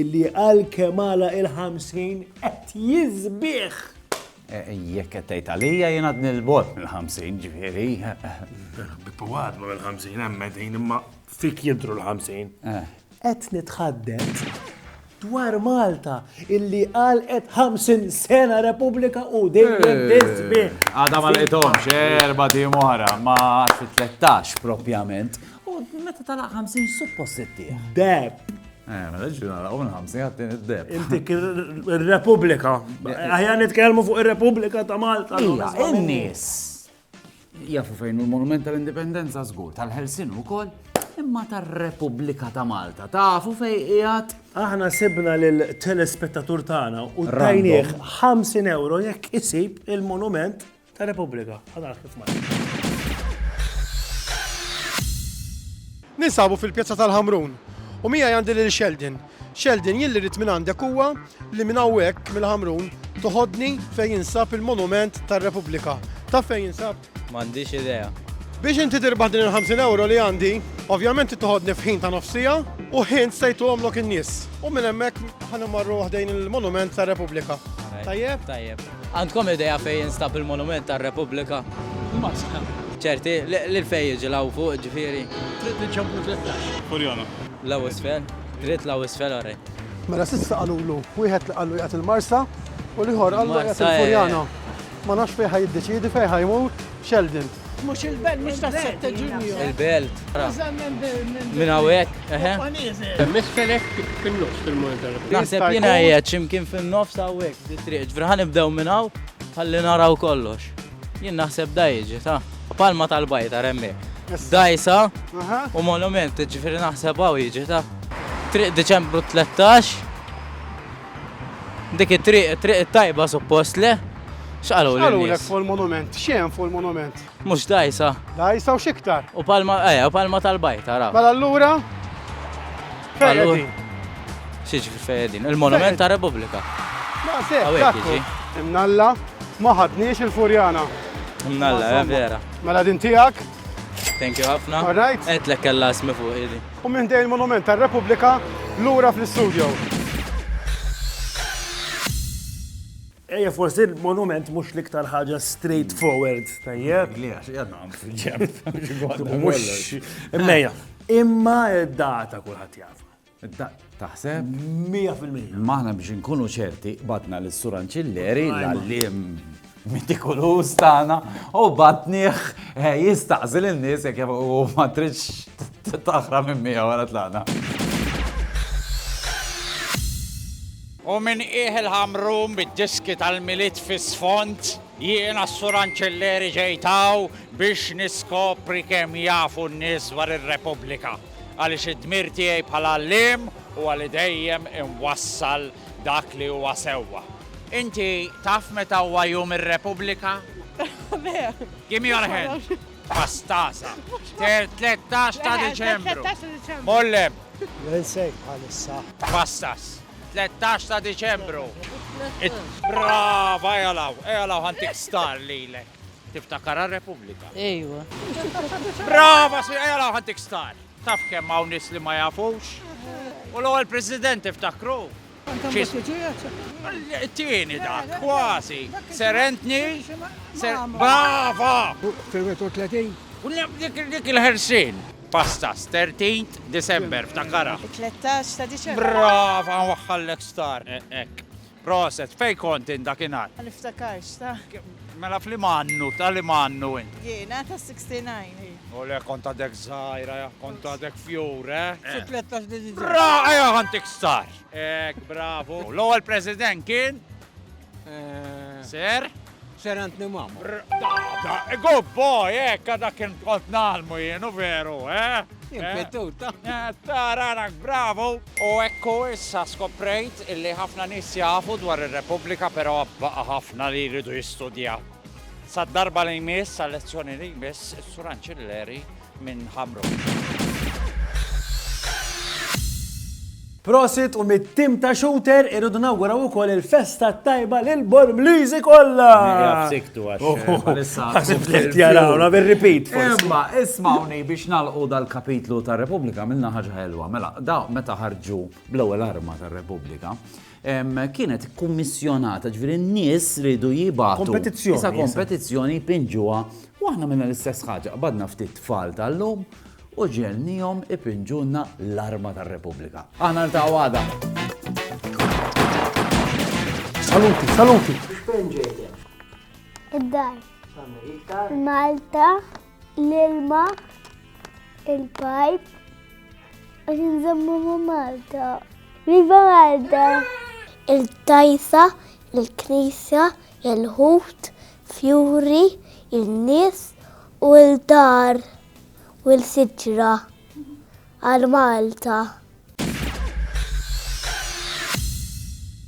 Illi għalkemm għalaq il-ħamsin qed jiżbigħ! Jekk qed tgħid għalija jien għadni l-bogħod mill-ħamsin, ġifieri. Bippu għad ma mill-ħamsin hemm qegħdin imma fik jidhru l-ħamsin. Qed nitħadded dwar Malta illi għalqet 50 sena Repubblika u dejjem tiżbigħ. Għadha ma lqithomx erba' tim oħra ma' 13 propjament. U meta talaq 50 suppost ittieħ. Deb, Eh, mela ġi nara u nħamsi għattin id-deb. Intik il-Repubblika. Għajja nitkellmu fuq il-Repubblika ta' Malta. Ija, in-nies. Jafu fejn il-Monument tal-Indipendenza żgur, tal-Helsin ukoll, imma tar-Repubblika ta' Malta. Tafu fej qiegħed. Aħna sibna lil telespettatur tagħna u tajnieh 50 euro jekk isib il-monument ta' Repubblika. Ħadar kif Ninsabu fil-Pjazza tal-Ħamrun u mija għandi lil Sheldon. Sheldon jilli rrit minn għandek huwa li minn hawnhekk mill-Ħamrun toħodni fejn jinsab il-Monument tar-Repubblika. Ta' fejn jinsab? M'għandix idea. Biex inti tirbaħ din il-50 euro li għandi, ovvjament toħodni f'ħin ta' nofsija u ħin sejtu għomlok in-nies. U minn hemmhekk ħanimmarru waħdejn il-Monument tar-Repubblika. Tajjeb? Tajjeb. Għandkom idea fejn jinstab il-monument tar-Repubblika? Maskra. Ċerti li fejn jiġi l-hawn fuq, ġifieri? Triq li ġġorr minn Tlettax. Furjana. L-hawn isfel? Dritt l-hawn isfel għarajt. Mela s'issa qalulu, wieħed li qallu qiegħed il-Marsa u l-ieħor qallu qiegħed il-Furjana. Ma nafx fejn ħa jiddeċiedi fejn ħa jmur Sheldon. Mhux il-belt, mhux ta' Sette Ġunju. Il-belt. Minn hawnhekk, eħe. Misfelek fin-nofs fil-monitor. Naħseb jiena qiegħed x'imkien fin-nofs hawnhekk di triq. Ġifieri ħa nibdew minn hawn ħalli naraw kollox. Jien naħseb da jiġi ta' palma tal-bajta remmek. Dajsa u monument, ġifieri naħseb hawn jiġi ta' triq Diċembru 13. Dik it-triq, it-triq it-tajba suppost, le? X'qaluli n-nies? X'qalulek fuq il-monument? X'hemm fuq il-monument? Mhux dgħajsa? Dgħajsa u x'iktar? U palma, eja, u palma tal-bajt, ara. Mela allura? Fejn qegħdin? X'jiġri fejn qegħdin? Il-monument tar-Repubblika. Ma se, dakku. Imnalla, ma ħadniex il-furjana. Imnalla, vera. Mela din tiegħek? Thank you ħafna. All right. Għedtlek kellha ismi fuq ili. U minn ħdejn il-Monument tar-Repubblika lura fl-istudio. Ejja, forsi il-monument mhux l-iktar ħaġa straightforward, tajjeb. Li għax jadna għam fil-ġemp. Mux, immeja. Imma id-data kulħadd jaf. Taħseb? 100%. Imma aħna biex inkunu ċerti batna l sur Anċilleri l-għallim mitikuluż tagħna u batniħ eh, jistaqsil in-nies jekk u ma tridx taħra minn miegħu wara tlaqna. U minn qiegħ il-ħamrum bid-diski tal-milit fis-sfond jiena s-sur Anċilleri ġejtaw biex niskopri kemm jafu n-nies dwar ir-Repubblika. għaliex id-dmir tiegħi bħala għalliem huwa li dejjem inwassal dak li huwa sewwa. Inti taf meta huwa Jum ir-Repubblika? Give me your hand. Pastasa. 13 ta' Diċembru. Mollem. L-insejk bħalissa. Pastas. 13 ta' Diċembru. Brava, ejalaw, ejalaw ħantik star lilek. Tiftakar għar-Repubblika? Ejwa. Brava, si ejja law ħantik star. Taf kemm hawn nies li ma jafux? U l-ewwel President tiftakru? Tieni dak, kważi. Serentni? Brava! Fil-31? Dik il-ħersin. Pastas, 13 December, ftakara. 13 ta' December. Brava, waħħallek star. Ek. Proset, fejn kont int dakinhar? Ma niftakarx, ta. Mela f'liema annu, ta' liema annu int? Jiena ta' sixty nine, hi. O le, kont għadek żgħira, ja, kont għadek fjur, eh? Xi tlettax li diġà. Bra, ejja kont ikstar! Hekk, bravu. L-ewwel President kien? Sir? Sir Anthony Mamo. Da, good boy, hekk għadha kien qod nagħlmu jien, u veru, eh? Impetuta. Tararak, bravo! U ekku issa skoprejt illi ħafna nies jafu dwar ir-Repubblika però baqa' ħafna li jridu jistudjaw. Sad-darba li jmiss, għal-lezzjoni li jmiss, is-Sur Anċilleri minn Hamrun. Prosit u mit-tim ta' shooter irridu nawguraw ukoll il-festa tajba lil Bormliżi kollha. Jafsiktu għax. Għasib li jarawna bir-repeat. Imma ismawni biex nalqu dal-kapitlu tar-Repubblika minna ħaġa ħelwa. Mela, da meta ħarġu bl-ewwel arma tar-Repubblika, kienet ikkummissjonata, jiġifieri n-nies riedu jibagħtu. Kompetizzjoni. Issa kompetizzjoni jpinġuha u aħna għamilna l-istess ħaġa, qbadna ftit tfal tal-lum u ġegħelniehom ipinġulna l-arma tar-Repubblika. Aħna niltaqgħu għada. Saluti, saluti. Fejn ġejt? Id-dar. Malta. L-ilma, il-pajp, għax nżammu ma' Malta. Viva Malta! Il-tajsa, il-knisja, il-ħut, fjuri, il-nies u l-dar u l-siġra għal Malta.